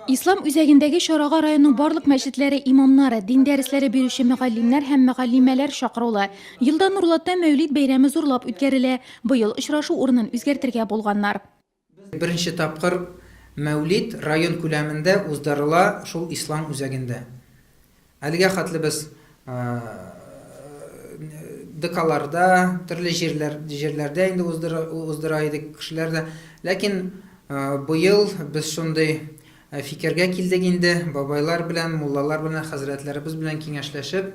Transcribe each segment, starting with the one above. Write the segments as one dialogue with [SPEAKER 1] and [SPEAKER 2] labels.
[SPEAKER 1] Ислам үзәгендәге чарага районның барлык мәчетләре имамнары, дин дәресләре бирүче мөгаллимнәр һәм мөгаллимәләр чакырулы. Елда Нурлатта Мәүлид бәйрәме зурлап үткәрелә. Быел очрашу урынын үзгәртергә булганнар. Беренче
[SPEAKER 2] тапкыр Мәүлид район күләмендә уздырыла шул Ислам үзәгендә. Әлегә хәтле без ДКларда, төрле җирләрдә инде уздыра идек, кешеләр дә. Ләкин быел без шундый фикергә килдек инде, бабайлар белән, муллалар белән, хәзрәтләребез белән киңәшләшеп,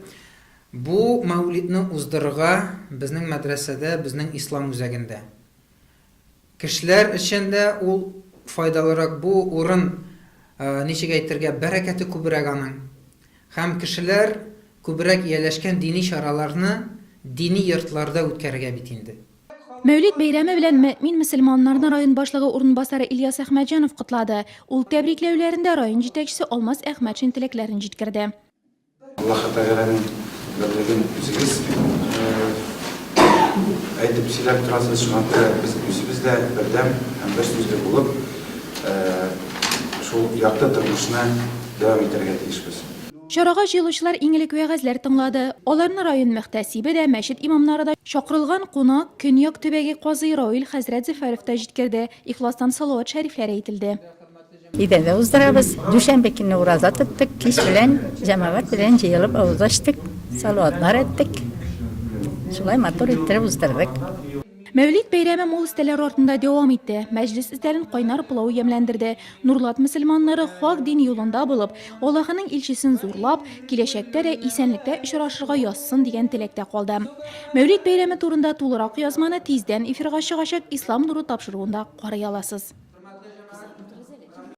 [SPEAKER 2] бу мәүлидне уздырырга безнең мәдрәсәдә, безнең Ислам үзәгендә. Кешеләр өчен дә ул файдалырак бу урын, ничек әйтергә, бәрәкәте күбрәк аның. Һәм кешеләр күбрәк ияләшкән дини чараларны дини йортларда үткәрергә бит инде. Мәүлид бәйрәме
[SPEAKER 1] белән мөэмин мөселманнарны район башлыгы урынбасары Ильяс Әхмәтҗанов котлады. Ул тәбрикләүләрендә район җитәкчесе Алмаз Әхмәтшин теләкләрен җиткерде. Аллаһы Тәгаләнең
[SPEAKER 3] берлеген үзегез әйтеп сөйләп торасыз, шуңа күрә без үзебез дә бердәм һәм бер сүзле булып, шул якты тормышны дәвам итәргә тиешбез. Чарага җыелучылар
[SPEAKER 1] иң элек вәгазьләр тыңлады. Аларны район мөхтәсибе дә, мәчет имамнары да, чакырылган кунак, Көньяк төбәге казые Раил хәзрәт Зөфәров та җиткерде, ихластан салават шәрифләр әйтелде. Өйдәдә
[SPEAKER 4] уздырабыз. Дүшәмбе көнне ураза тоттык, кич белән җәмәгать белән җыелып авыз ачтык, салаватлар әйттек. Шулай матур иттереп уздырдык. Мәүлид
[SPEAKER 1] бәйрәме мул өстәлләр артында дәвам итте. Мәҗлес өстәлен кайнар пылау ямьләндерде. Нурлат мөселманнары хак дин юлында булып, Аллаһының илчесен зурлап, киләчәктә дә исәнлектә очрашырга язсын дигән теләктә калды. Мәүлид бәйрәме турында тулырак язманы тиздән эфирга чыгачак Ислам нуры тапшыруында карый аласыз.